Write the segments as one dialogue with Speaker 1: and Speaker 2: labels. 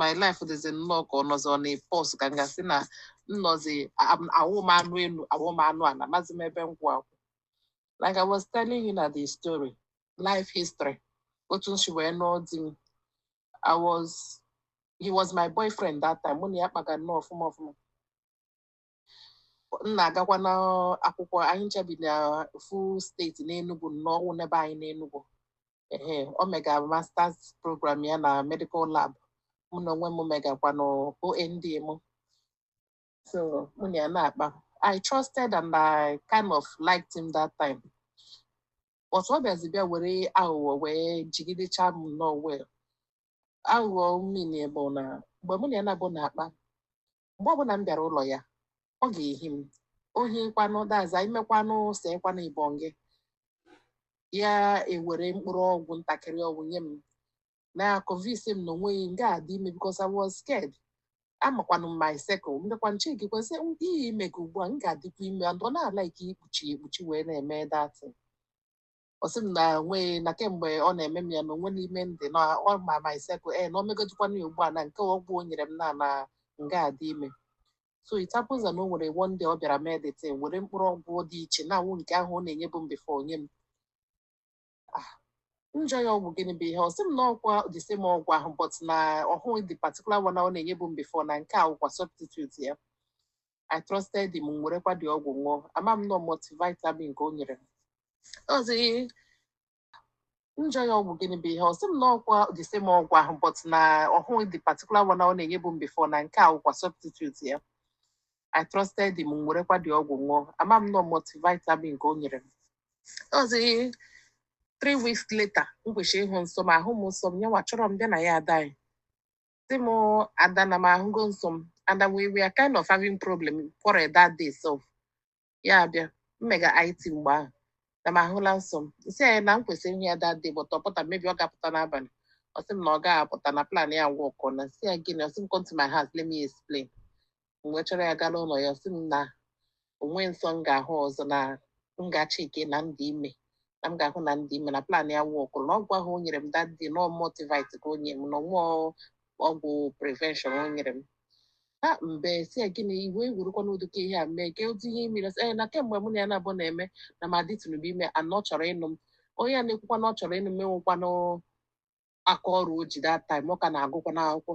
Speaker 1: my life dịzi nnọọ ka ọ nọzi on a pause ka m ga-asị na m nọzi awụ m anụ elu awụ m anụ ala amazi m ebe m kwụ akwụ like I was telling you na the story life history otu m si wee nụọ di m I was he was my boyfriend that time mụ na ya kpaga nnọọ ọfụma ọfụma m na-agakwa n'akwụkwọ anyị ncha bi na ofu steeti n'Enugu na ọ wụ n'ebe anyị n'Enugu ee o mega masters program ya na medical lab mụ n'onwe m megakwa na OND m so mụ na ya na-akpa I trusted and I kind of liked him that time but ọ bịazi bịa were aghụghọ wee jigidecha m nnọọ well aghụghọ m mean bụ na mgbe mụ na ya nọbu na-akpa mgbe ọbụla m bịara ụlọ ya ọ ga-ehi m ohi kwanụ that's imekwanụ sekwanụ ibọn gị ya ewere mkpụrụ ọgwụ ntakịrị ọgwụ nye m na-aconvince m na o nweghị m ga-adị ime because I was scared amakwanụ m my cycle mbịakwa nche gị kwesị ihe ime gị ugbu a m ga-adịkwa ime and ọ na-alike ikpuchi ekpuchi wee na-eme that thing ọ sị m na nweghị na kemgbe ọ na-eme m ya na o nwe n'ime m dị na ọ ma my cycle na o megodikwana ya ugbu a na nke ọgwụ o nyere m na na m ga-adị ime so it happens na o nwere one day ọ bịara mee the thing were mkpụrụ ọgwụ dị iche na awụ nke ahụ ọ na-enyebu m before nye m ah m jụọ ya ọgwụ gịnị bụ ihe a ọ sị m na ọkwa the same ọgwụ ahụ but na ọ wụghị the particular one ọ na-enyebu m before na nke a wụkwa substitute ya I trusted him m werekwa the ọgwụ ṅụọ ama m na ọ multivitamin ka o nyere m ọzi m jụọ ya ọgwụ gịnị bụ ihe a ọ sị m na ọkwa the same ọgwụ ahụ but na ọ wụghị the particular one ọ na-enyebu m before na nke a wụkwa substitute ya I trusted him m werekwa the ọgwụ ṅụọ ama m na ọ multivitamin ka o nyere m ọzi three weeks later m kwesịrị ịhụ nsọ m ahụ m nsọ m nyanwa chọrọ m bịa na ya ada anyị sị m ada na m ahụgo nsọ m and we we are kind of having problem quarrel that day so ya abịa m mega IT mgbe ahụ na m ahụla nsọ m m sị ya na m kwesịrị ịhụ ya that day but ọ pụta maybe ọ ga-apụta n'abalị ọ sị m na ọ gaghị apụta na plan ya workọna m sị ya gịnị ọ sị m come to my house let me explain m wee chọrọ ya gaa n'ụlọ ya ọ sị m na o nwe nsọ m ga-ahụ ọzọ na m gaa checkie na m dị ime na m ga-ahụ na m dị ime na plan ya workụrụ na ọgwụ ahụ o nyere m that day na ọ multivit ka o nyere m na ọ wụ ọgwụ prevention o nyere m ha m wee sị ya gịnị iwe egwurukwa n'ụdị ka ihe a mee gee ụdị ihe imere sị ee na kemgbe mụ na ya nọbu na-eme na m adịtụnụbe ime na ọ chọrọ ịnụ m onye a na-ekwukwa na ọ chọrọ ịnụ m enwekwanụ aka ọrụ o ji that time ọ ka na-agụkwanụ akwụkwọ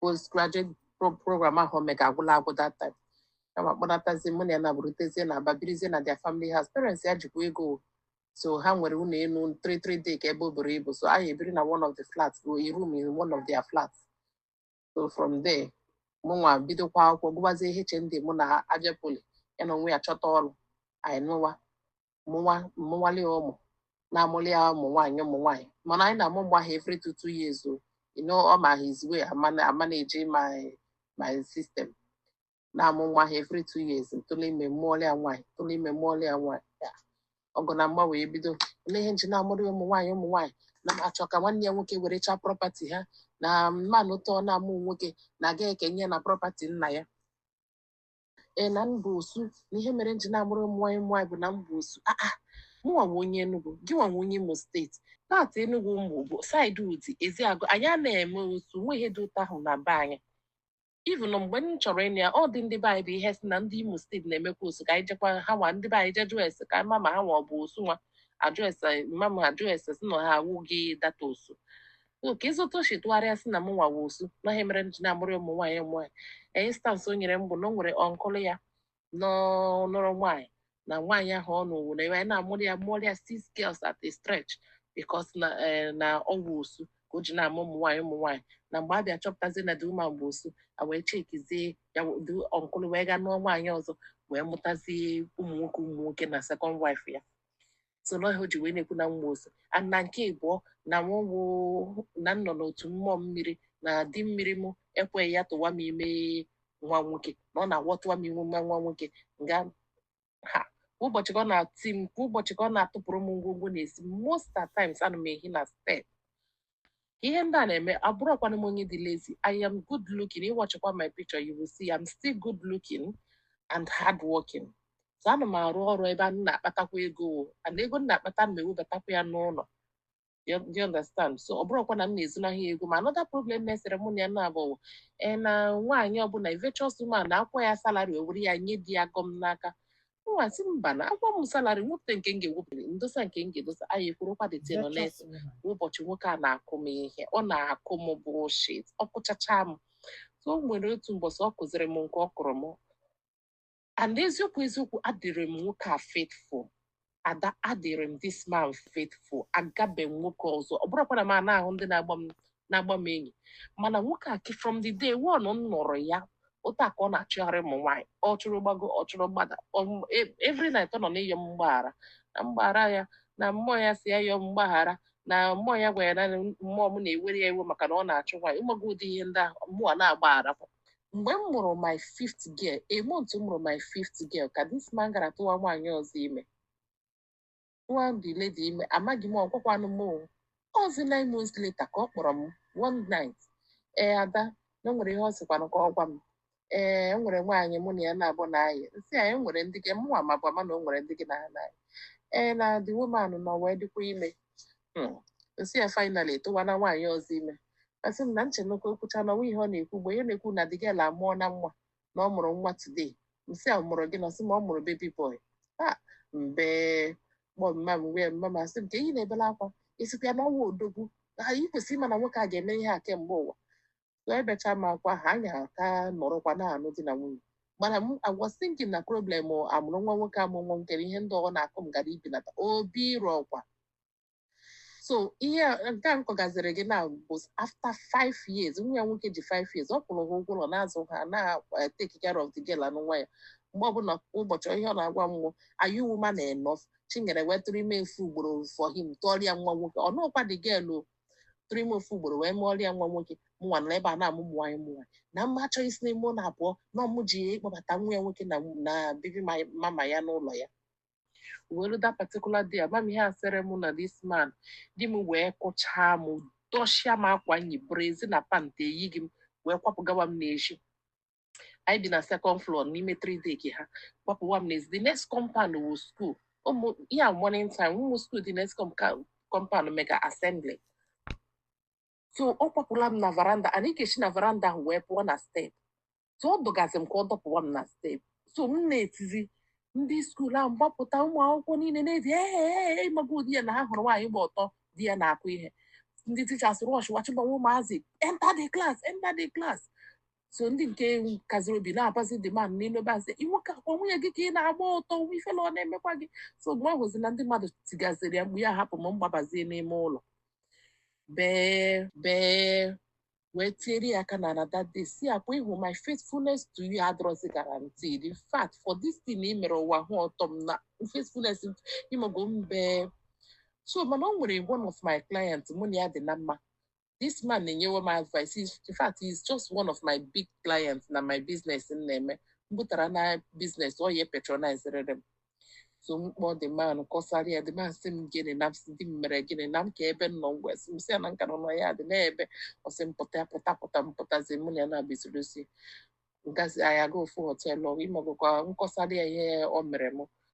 Speaker 1: postgraduate pro- program ahụ o mega agwụla agwụ that time ya akpọnatazie mụ na ya na-abụrụtezie na Aba birizie na their family house parents ya jikwa ego o. so ha nwere ụlọ elu 3 3 decker ebe o buru ibu so anyị ebiri na one of the flats or a room in one of their flats so from there mụnwa bidokwa akwụkwọ gụbazie HND mụ na Abia Poly ya na onwe ya chọta ọrụ anyị nụwa mụnwa mụwale ya ụmụ na-amụli ya ụmụ nwaanyị ụmụ nwaanyị mana anyị na-amụ mgbe ahụ every two two years o you know ọ ma his way ama na- ama na-eji my my system na-amụ nwa ha every two years ntụlụ ime mụọlị ya nwaanyị ntụlụ ime mụọlị ya nwaanyị Ya, ọgụ na mgba wee bido olee ihe nji na-amụrụ ya ụmụ nwaanyị ụmụ nwaanyị na m achọ ka nwanne ya nwoke were chaa prọpati ha na mmanụ ụtọ na-amụ nwoke na a ga-ekenye ya na prọpati nna ya ee na m bụ osu na ihe mere nji na-amụrụ ụmụ nwaanyị ụmụ nwaanyị bụ na m bụ osu aa mụnwa wụ onye Enugu gị nwa wụ onye Imo steeti paati Enugu mụ bụ saịdị Udi Ezeagụ anyị a na-eme osu nwe ihe dị otu ahụ na be anyị even mgbe m chọrọ ịnụ ya ọ dị ndị be anyị bụ ihe sị na ndị Imo steeti na-emekwa osu ka anyị jekwa ha nwa ndị be anyị je jụọ ese ka ma ma ha nwa ọ bụ osu nwa ajụ ese mama m ajụ ese sị na ha awụghị that osu kedụzi etu o si tụgharịa sị na m nwa wụ osu na ihe mere m ji na-amụrụ ụmụ nwaanyị ụmụ nwaanyị instansị o nyere m bụ na o nwere ọnkụlụ ya nụrụ nwaanyị na nwaanyị ahụ ọ nụrụ na ebe anyị na-amụrụ ya mụrụ ya six girls at a stretch because na eh, na ọ wụ osu ka o ji na-amụ ụmụ nwaanyị ụmụ nwaanyị na mgbe a bịa chọpụtazie na the woman bụ osu a wee chekizie ya the ọnkụlụ wee gaa nụọ nwaanyị ọzọ wee mụtazie ụmụ nwoke ụmụ nwoke na second wife ya so na ọ ihe o ji wee na-ekwu na m wụ osu and na nke ịbụọ na mụnwa na m nọ n'otu mmụọ mmiri na di mmiri mụ ekweghị ya tụwa m ime nwa nwoke na ọ na-awọtụwa m ime nwa nwa nwoke nga ahụ kwa ụbọchị ka ọ na-ati m kwa ụbọchị ka ọ na-atụpụrụ m ngwongwo n'ezi m most at times ana m ehi na step ihe ndị a na-eme abụrọkwanụ m onye dị lazy I am good looking ị watchịkwa my picture you will see I'm still good looking and hard working so ana m arụ ọrụ ebe a na-akpatakwa ego o and ego m na-akpata m ewebatakwa ya n'ụlọ Do you understand so ọ bụrọkwa na m na-ezunahụ ya ego ma another problem na-esere mụ na ya na Aba wụ, ee na nwaanyị ọbụla a virtuous woman na a kwụọ ya salary o were ya nye di ya gọm n'aka m asị mba na a kwụọ m salari m wepụta nke m ga-ewepụta ndosa nke m ga-edosa anyị kwurukwa the thing kwa ụbọchị nwoke a na-akụ m ihe ọ na-akụ m bullshit ọ kụchacha m so o nwere otu mbọsị ọ kụziri m nke ọ kụrụ m and eziokwu eziokwu adịrị m nwoke a faithful ada adịrị m this man faithful agabe m nwoke ọzọ ọ bụrọkwa na m ana-ahụ ndị na-agba m na-agba m enyi mana nwoke a ki- from the day one m nụrụ ya otu a ka ọ na-achụgharị ụmụ nwaanyị ọ chụrụ gbago ọ chụrụ gbada ọ- e- every night ọ nọ n'ịyọ m mgbaghara na m gbaghara ya na mmụọ ya sị ya yọọ m mgbaghara na mmụọ ya gwara ya na mmụọ m na-ewere ya iwe maka na ọ na-achụ nwaanyị ịmago ụdị ihe ndị ahụ mụ ana-agbaghara. mgbe m mụrụ my fifth girl a month m mụrụ my fifth girl ka this man gara tụwa nwaanyị ọzọ ime tụwa the lady ime amaghị m ọ gwakwanụ m o ọzi nine months later ka ọ kpọrọ m one night ee ada na o nwere ihe ọ sịkwanụ ka ọ gwa m ee e nwere nwaanyị mụ na ya naabọ na-ayị m sị ya e nwere ndị gị mụnwa mabu ama na o nwere ndị gị na ha na-ayị ee na the woman nọ wee dịkwa ime Hmm. m sị ya finally tụwana nwaanyị ọzọ ime asị m na m chenụ ka o kwucha na ọnwa ihe ọ na-ekwu mgbe ya na-ekwu na the girl amụọna nwa na ọ mụrụ nwa today m sị ọ mụrụ gịnị ọ sị m na ọ mụrụ baby boy ha m bee kpọọ mama m wee mama m asị m kee ihe ị na-ebela akwa ị sịkwa ya n'ọnwa odogwu na ị kwesịrị ịma na nwoke a ga-eme ihe a kemgbe ụwa so ebechaa m akwa ha anyị aka nọrọkwa na-anụ di na nwunye mana m was thinking na problem amụrụ nwa nwoke a mụnwa chere ihe ndị ọ na-akụ m gara ibenata obi eruokwa so ihe nke m kọgaziri gị na bụ after five years nwa ya nwoke dị five years ọ kwụrụ ha ụgwọ ụlọ na-azụ ha na-take eh, care of the girl na nwa ya mgbe ọbụla ụbọchị ihe ọ na-agwa m wụ are you woman enough chinyere wee tụrụ ime ofu ugboro for him mụọrọ ya nwa nwoke ọ nọkwa the girl ọ tụrụ ime ofu ugboro wee mụọrọ ya nwa nwoke mụnwa nọ ebe a na-amụ ụmụ nwaanyị mụnwa na ma m achọghị isi n'ime ụlọ a pụọ na ọ mụ ji ịkpọbata nwa ya nwoke na baby mama ya n'ụlọ ya well that particular day ama m ihe a sịrị m na this man di m wee kụchaa m dọchịa m akwa m yi brassiere na pant eyighị m wee kwapụgawa m n'ezi anyị bi na second floor n'ime three deck ya kwapụwa m n'ezi the next compound wụ school ụmụ ya morning time ụmụ school the next compound mega assembly so ọ kwapụla m na veranda and ị ga-esi na veranda ahụ wee pụọ na step so ọ dọgazi m ka ọ dọpụwa m na step so m na-etizi ndị school ahụ agbapụta ụmụ akwụkwọ niile na-eti ee ịmago ụdị ya na ha hụrụ nwaanyị gba ọtọ di ya na-akụ ihe ndị teachers rush wee chịbanye ụmụazị enter the class enter the class so ndị nke kaziri obi na-abazi the man na-abazi nwoke ọkwa nwunye gị ka ị na-agba ọtọ nwa ifele ọ na-emekwa gị so mgbe ọ hụzi na ndị mmadụ tigaziri ya mkpu ya hapụ m m gbabazie n'ime ụlọ bee bee wee tiere ya aka n'ala that day sị ya ọkwa ị hụ my faithfulness to you adịrọzi guaranteed in fact for this thing ị mere ụwa hụ ọtọ m na faithfulness ịmago mbe so mana o nwere one of my clients mụ na ya dị na mma this man na-enyewe m advice He's- in fact he is just one of my big clients na my business m na-eme m batara na business ọ ya patronizerere m so m kpọọ the man kọsara ya the man sị m gịnị na m sị di m mere gịnị na m ka ebe m nọ m wee sị m sị ya na m ka nọ na yard n'ebe ọ sị m pụta pụta pụta m pụtazie mụ na ya na-abịa soro si ngazi anyị aga ofu họteelụ ịmagokwa m kọsara ya ihe o mere m